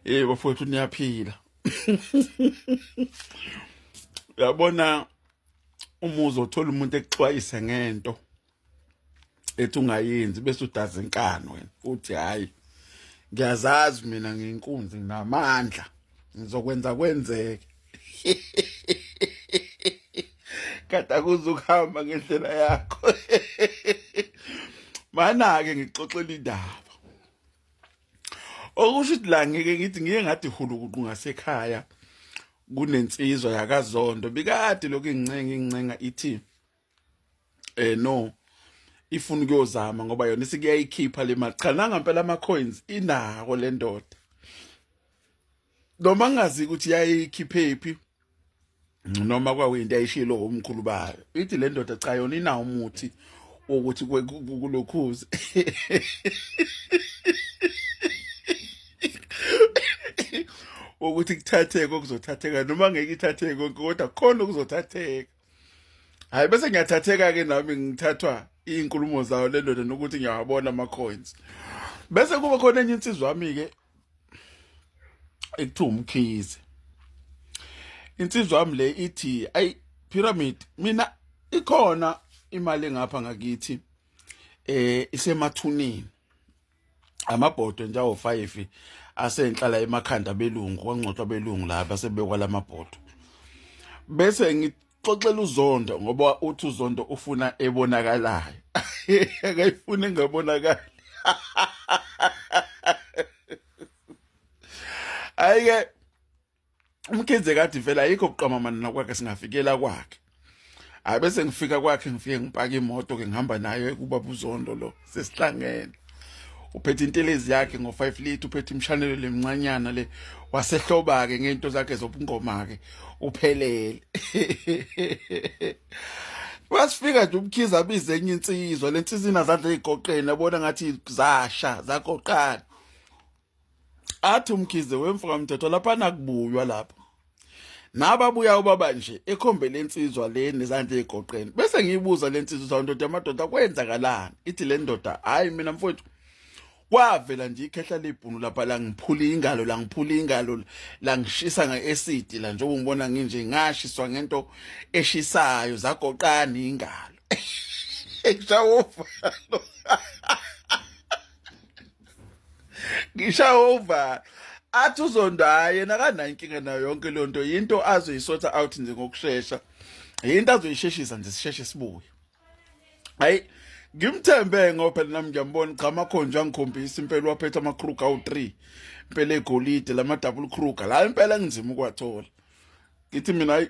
hey bafowethu niyaphila uyabona uma uzothola umuntu ekuxwayise ngento ethi ungayenzi bese udaza inkani wena uthi hayi ngiyazazi mina nginkunzi nginamandla ngizokwenza kwenzeke kade akuze ukuhamba ngendlela yakho mana-ke ngixoxela indaba okusho ukuthi la ngike ngithi ngiye ngathi hulukuqu ngasekhaya kunensizwa yakazondo bikade lokhu incenga incenga ithi eh no ifuna ukuyozama ngoba yona isikuyayikhipha le mali cha nanga impela ama coins inako le ndoda noma ngazi ukuthi yayikhiphephi noma kwakuyinto ayishilo umkhulu bayo ithi le ndoda cha yona inawo umuthi wokuthi kulokhuze ukuthi kuthatheke okuzothatheka noma ngeke ithatheke konke kodwa khona okuzothatheka hayi bese ngiyathatheka ke nami ngithathwa izinkulumo zayo le ndoda nokuthi ngiyawabona ama coins bese kuba khona enye insizwa yami ke ekuthiwa umkhize insizwa yami le ithi ayi pyramid mina ikhona imali engapha ngakithi eh isemathuneni amabhodwe nje awo-five asenhlala emakhanda abelungu kwangcotshwa abelungu la basebekwa la mabhodwe bese ngixoxela uzondo ngoba uthi uzondo ufuna ebonakalayo akayifuni engabonakali ayike umkhize kathi vele ayikho kuqamamana nakwakhe singafikela kwakhe hayi bese ngifika kwakhe ngifike ngipaka imoto ke ngihamba nayo ekubaba uzondo lo sesihlangene uphethe intelezi yakhe ngo-5 litre uphethe imshanelo lemncanyana le wasehlobake ngento zakhe zobungoma-ke uphelele wasifika nje umkhiza abize enye insizwa le nsizina zadla ey'goqeni abona ngathi zasha zagoqana athi umkhize wemfoka mthetho lapha nakubuywa lapho nababuya ubaba nje ekhombe lensizwa le nezandla ezigoqeni bese ngiyibuza lensizwa ukuthi ndoda amadoda kwenzakalani ithi le ndoda hayi mina mfowethu kwavela nje ikhehla lebhunu lapha la ngiphula ingalo la ngiphula ingalo la ngishisa ngeacid la njengoba ngibona nginje ngashiswa ngento eshisayo zagoqana ingalo ekushawo ngishawa uvalo athi uzondaye yena kanankinga nayo yonke leyo nto yinto azoyisotha out nje ngokushesha yinto azoyisheshisa nje sisheshe sibuye hayi ngimthembe ngoba phela nami ngiyambona cha amakhonja angikhombisa impela waphetha amakruga awu-3 impela egolide lama-double kruga la impela ngizima ukuwathola ngithi mina hayi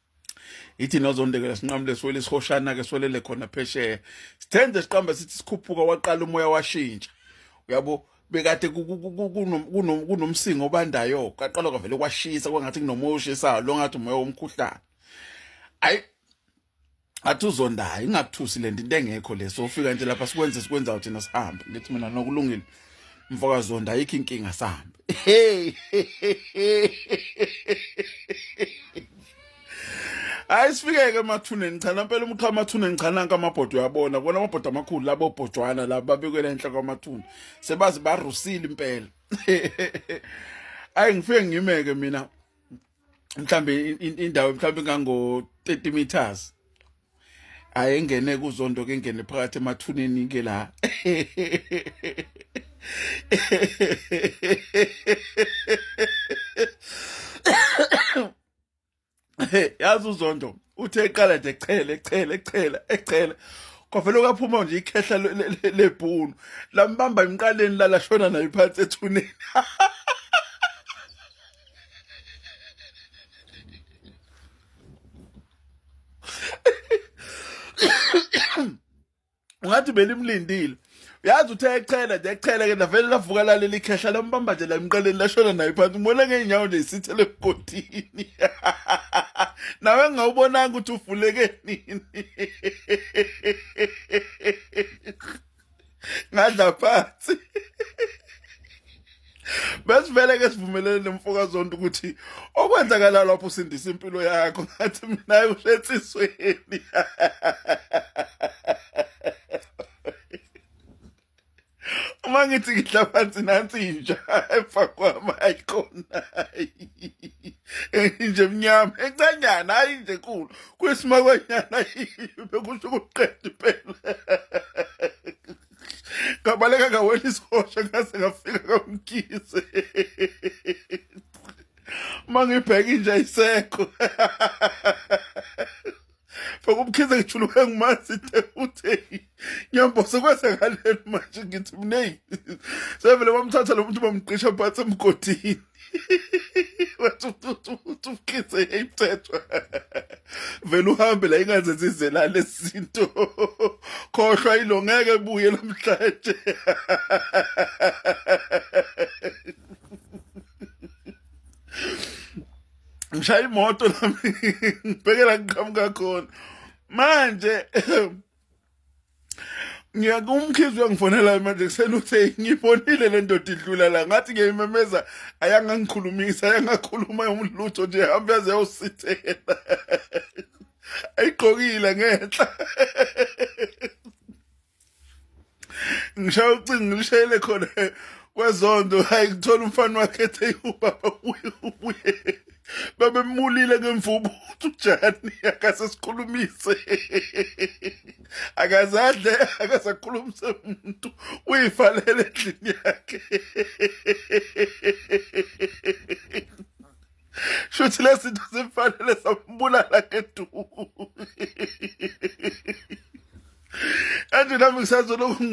ithi nozondekela sinqamule swele isihoshana ke swelele khona phesheya sithenze siqamba sithi sikhuphuka waqala umoya washintsha uyabo bekade kunomsingo obandayo kaqala kwavele kwashisa kwangathi kunomoya oshisayo lo ngathi umoya womkhuhlane ayi athi uzondayo ingakuthusi le nto into engekho le sofika nje lapha sikwenze sikwenzayo thina sihambe ngithi mina nokulungile mfokazondo ayikho inkinga sambe hey hayi sifikeke emathuneni cha nampela umqha amathuneni cha nanka amabhodo uyabona kona amabhodo amakhulu labo bhojwana labo babekwela enhla kwamathuna sebazi barusile impela ayi ngifike ngimeke mina mhlambe indawo mhlambe kango 30 meters ayengene kuzondo ke ngene phakathi emathuneni ke la yazi uzondo uthe eqala nje echele echele echele echele kwavele kwaphuma nje ikhehla lebhunu lambamba emqaleni lalashona nayo phansi ethuneni ungathi belimlindile yazi uthe echela nje echela ke navele lavuka laleli ikhehla lambamba nje lamqaleni lashona naye phansi umona ngeenyawo nje isithele emgodini nawe ngawubonanga ukuthi ufuleke nini ngadla phansi besivele ke sivumelene nemfoka zonto ukuthi okwenzakala lapho usindisa impilo yakho ngathi mina uhletsisweni uma ngithi ngidla phansi nansi inja efa kwami ayikhona nje mnyama encanyana hayi nje nkulu kwesimakwanyana bekusho ukuqeda impela ngabaleka ngawela isihosha ngase ngafika kamkhize uma ngibheka inja isekho faka umkhize ngijuluke ngumazi te utheni ngiyambosa kwesekaleni manje ngithi mneyi sevele bamthatha lo muntu bamqisha phansi emgodini wathi ufikise imthethwa vele uhambe la ingaze zizelale izinto khohlwa ilo ngeke buye namhlanje ngishaya imoto nami ngibhekela ngiqhamuka khona manje ngiyaku umkhizi uyangifonela manje kuseni uthe ngibonile le ndoda idlula la ngathi ngiyayimemeza ayangangikhulumisa ayangakhuluma umlutho nje hambe yaze yosithela ayigqokile ngenhla ngishaya ucingo ngilishayele khona kwezonto hayi ngithola umfana wakhe ethe ubaba ubuye ubuye babemulile ngemvubu ukuthi ujani akase sikhulumise akazadle akasakhulumise umuntu uyivalele endlini yakhe shuthi lezinto zimfanele sambulala ngeduku Anje nami ngisazoloku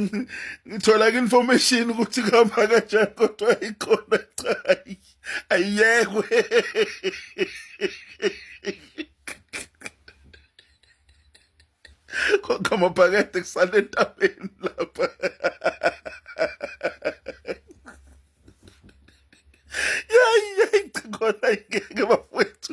ngithola information ukuthi kuhamba kanjani kodwa ikhona cha ayekwe Konke amabhakede kusale entabeni lapha yayi yayi khona ngeke bafowethu